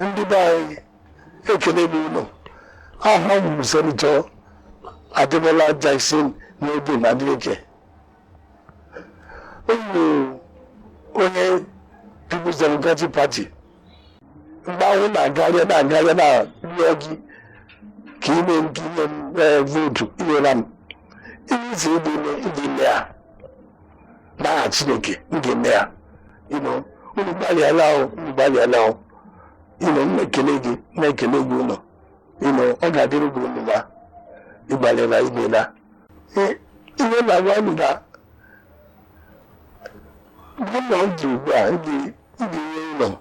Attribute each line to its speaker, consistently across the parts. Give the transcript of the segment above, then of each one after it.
Speaker 1: ndị be anyị ekele m unu aha m bụ senetọ ademola jackson nurudeen adeleke ụmụ onye peoples democratic party mgbe ahụ na-agarịa na-agarịa na-arịọ gị ka ime nke inye m ee, vootu i nyela m ihe isi ịdị ime ịdị ime ya n'aha chineke m ga-eme ya you know unu agbalịala o unu agbalịala o you know m na-ekele gị m na-ekele gị unu you know ọ ga-adịrị unu mma ị gbalịala i meela Ee, ihe m na-agwa unu na mgbe m nọ ndụ ugbu a m ga-enye unu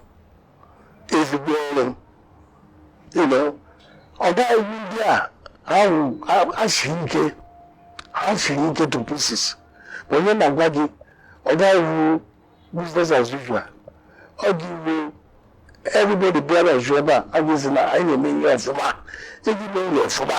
Speaker 1: ezigbo ọrụ you know ọ gaghị abụ ndị a ahụ ha siri ike ha siri ike to pieces but ihe m na-agwa gị ọ gaghị abụ business as usual ọ dị iwu everybody bịara ju ebe a agụzi na anyị na-eme ihe ọfụma e ji eme ihe ọfụma